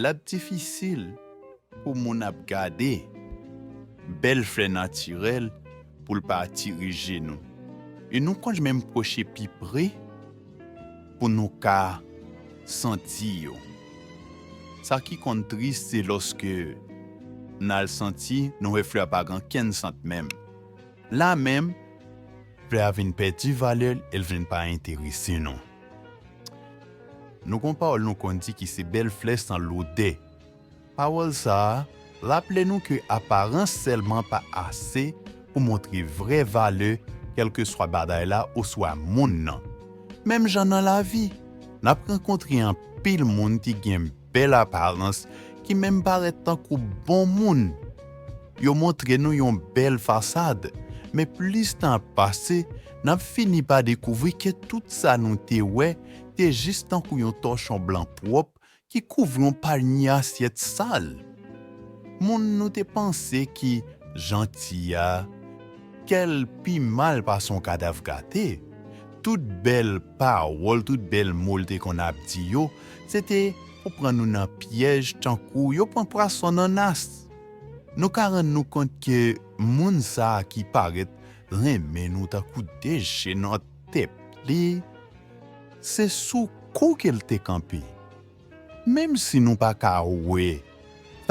Lap difisil pou moun ap gade bèl flè natirèl pou l pa atire je nou. E nou konn menm pwoche pi pre pou nou ka santi yo. Sa ki konn tris se lòske n al santi nou wè flè a pa gen ankenn sant menm. La menm flè a vin pèdi valè l e l vin pa enterese nou. Nou gon pawòl nou konn di ki se bèl flè san lodè. Pawòl sa a raple nou ke aparans sèlman pa ase pou montre vrè valè kèlkeswa bagay la oswa moun nan. Menm jan nan lavi, n ap rankontre anpil moun ki gen bèl aparans ki menm parèt tankou bon moun. Yo montre nou yon bèl fasad, men plis tan ap pase, n ap fini pa dekouvri ke tout sa nou te wè te jis tankou yon tòchon blan pwòp ki kouvri yon panye asyèt sal. Moun nou te panse ki janti a, kè l pi mal pase yon kadav gate. Tout bèl pawòl, tout bèl mo l te konn ap di yo, se te pou pran nou nan pyèj tankou yo pran pwason nan nas. Nou ka rann nou kont ke moun sa a ki parèt renmen nou tankou de je nan tèt li, se sou kou ke l te kanpe. Menm si nou pa ka wè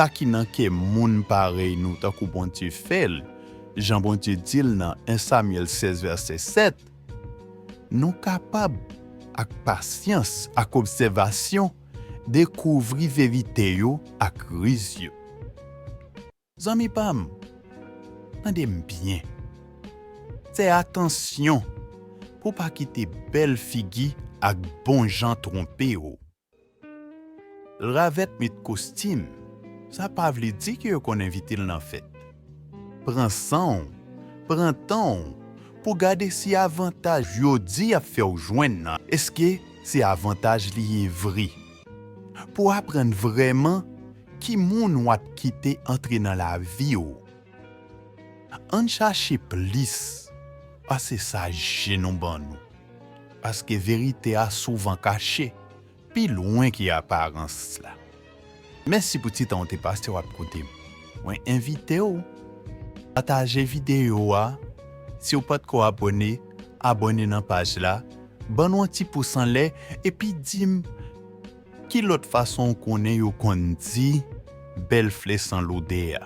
sa ki nan kè moun parèy nou tankou Bondye fè l, jan Bondye di l nan 1 Samyèl 16 vèsè 7, Nou kapab, ak pasyans ak obsèvasyon, dekouvri verite yo ak riz yo. Zanmi pa m, tande m byen. Fè atansyon pou w pa kite bèl figi ak bonjan twonpe w. L ravèt met kostim, sa pa vle di ke yo konn envite l nan fèt. Pran san w, pran tan w pou gade si avantaj yo di y ap fè w jwenn nan, eske se avantaj li ye vre. Pou aprann vrèman ki moun w ap kite antre nan lavi w, ann chache plis pase sa je nou ban nou. paske verite a souvan kache pi lwen ke aparans la. Mèsi pou ti tan ou te pase w ap koute m. Mwen envite w pataje videyo a, si w patko abone, abone nan paj la, ban nou yon ti pous anlè epi di m ki lòt fason ou konnen yo konn di bèl fle san lode a.